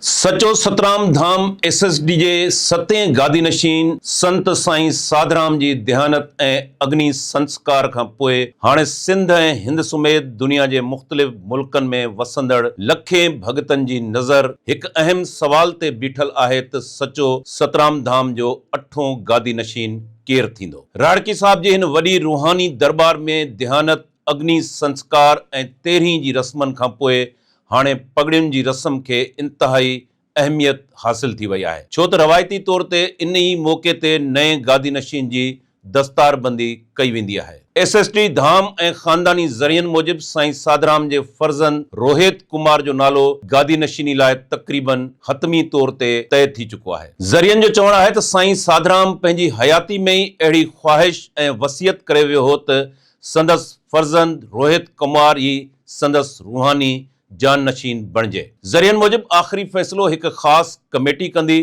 سچو Satram Dham S S D جي ستين گادي نشين سنت سائين ساڌرام جي ديهانت ۽ اگني سنسڪار کان پوء هاڻي سنڌ ۽ هند سميت دنيا جي مختلف ملڪن ۾ وسندڙ لکين ڀڳتن جي نظر هڪ اهم سوال تي بيٺل آهي ته سچو سترام ڌام جو اٺون گادي نشين ڪير ٿيندو؟ راهڙڪي صاحب جي هن وڏي روحاني درٻار ۾ ديهانت اگني سنسڪار ۽ تيرهين جي رسمن کان پوء هاڻي پڳڙين جي رسم کي انتهائي اهميت حاصل ٿي وئي آهي ڇو ته روايتي طور تي انهي موقعي تي نئين گادي نشين جي دستار بندي ڪئي ويندي آهي. ايس ايس ڊي ڌام ۽ خانداني ذريعن موجب سائين ساڌرام جي فرزند روهيت ڪمار جو نالو گادي نشيني لاء تقريباً حتمي طور تي طئي ٿي چڪو آهي. ذريعن جو چوڻ آهي ته سائين ساڌرام پنهنجي حياتي ۾ ئي اهڙي خواهش ۽ وصيت ڪري ويو هو ته سندس فرزند روهت ڪمار ئي سندس روحاني جانشين بڻجي. ذريعن موجب آخري فيصلو هڪ خاص ڪميٽي ڪندي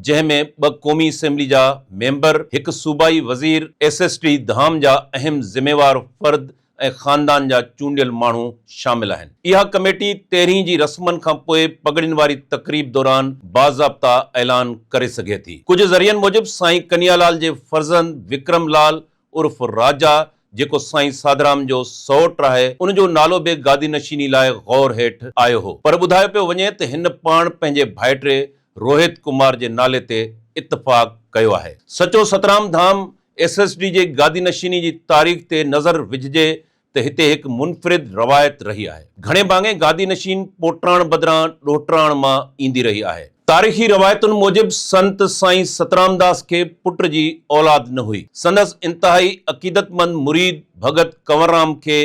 جنهن ۾ ٻه قومي اسيمبلي جا ميمبر، هڪ صوبائي وزير، ايس ايس ٽي ڌام جا اهم ذميوار فرد ۽ خاندان جا چونڊيل ماڻهو شامل آهن. اها ڪميٽي تيرهين جي رسمن کان پوء پڳڙين واري تقريب دوران باضابطا اعلان ڪري سگهي ٿي. ڪجهه ذريعن موجب سائين ڪنيالال جي فرزند وڪرم لال عرف راجا جيڪو سائين ساڌرام جو سئوٽ آهي ان جو نالو به گادي نشيني لاء غور هيٺ آيو هو پر ٻڌايو پيو وڃي ته هن پاڻ پنهنجي ڀائٽي روهت ڪمار جي نالي تي اتفاق ڪيو آهي Sacho Satram Dham S S D جي گادي نشيني جي تاريخ تي نظر وجهجي ته هتي هڪ منفرد روايت رهي آهي. گهڻي ڀاڱي گادي نشين پوٽراڻ بدران ڏوهٽراڻ مان ايندي رهي آهي. تاريخي روايتن موجب سنت سائين سترامداس کي پٽ جي اولاد نه هئي. سندس انتهائي عقيدتمند مريد ڀڳت ڪنوررام کي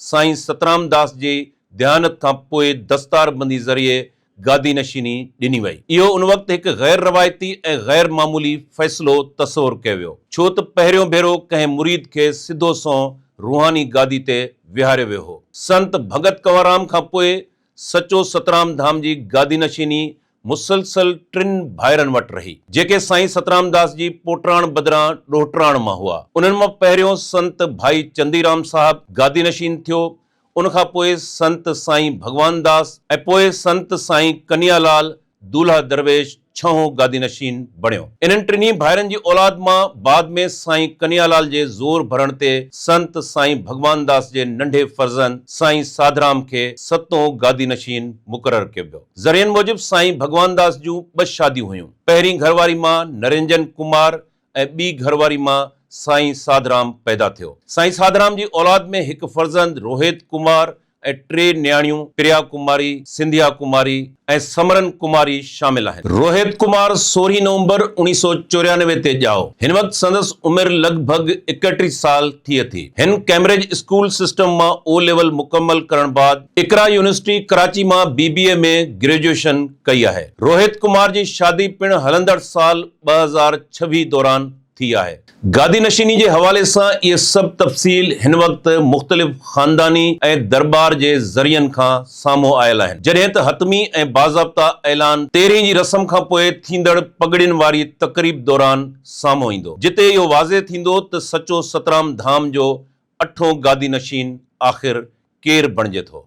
سائين سترامداس جي ديانت کان پوء دستاربندي ذريعي گادي نشيني ڏني وئي. اهو ان وقت هڪ غير روايتي ۽ غير معمولي فيصلو تصور ڪيو ويو، ڇو ته پهريون ڀيرو ڪنهن مريد کي سڌو سنئون روحاني گادي تي ويهاريو ويو هو. سنت ڀڳت ڪنوارام کان پوء سچو سترام ڌام جي گادي نشيني مسلسل ٽن ڀائرن وٽ رهي، جيڪي سائين سترام داس جي پوٽراڻ بدران ڏوهٽراڻ مان هئا. انهن مان پهريون سنت ڀائي چندي رام صاحب گادي نشين ٿيو ان کان پوء سنت سائين ڀڳوان داس ۽ پوء سنت سائين ڪنيا لال دولهه درويش ڇهون گادي نشين بڻيو. انهن ٽنهي ڀائرن جي اولاد مان بعد ۾ سائين ڪنيا لال جي زور ڀرڻ تي سنت سائين ڀڳوان داس جي ننڍي فرزند سائين ساڌرام کي ستون گادي نشين مقرر ڪيو ويو. ذريعن موجب سائين ڀڳوان داس جون ٻه شاديون هيون. پهرين گهر واري مان نرنجن ڪمار ۽ ٻي گهر واري مان سائين ساڌرام پيدا ٿيو. سائين ساڌرام جي اولاد ۾ هڪ فرزند روهيت ڪمار ۽ ٽي نياڻيون پريا ڪماري، سنڌيا ڪماري ۽ سمرن ڪماري شامل آهن. روهيت ڪمار سورهين نومبر اوڻيهه سؤ چوريانوي تي ڄائو. هن وقت سندس عمر لڳ ڀڳ ايڪٽيهه سال ٿئي ٿي. هن ڪئمبرج اسڪول سسٽم مان او ليول مڪمل ڪرڻ بعد اقرا يونيورسٽي ڪراچي مان بي بي اي ۾ گريجوئيشن ڪئي آهي. روهت ڪمار جي شادي پڻ هلندڙ سال ٻه هزار ڇويهه دوران ٿي آهي. گادي نشيني جي حوالي سان اهي سڀ تفصيل هن وقت مختلف خانداني ۽ درٻار جي ذريعن کان سامهون آيل آهن جڏهن ته حتمي ۽ باضابطه اعلان تيرهين جي رسم کان پوء ٿيندڙ پڳڙين واري تقريب دوران سامهون ايندو جتي اهو واضح ٿيندو ته سچو سترام ڌام جو اٺون گادي نشين آخر ڪير بڻجي ٿو.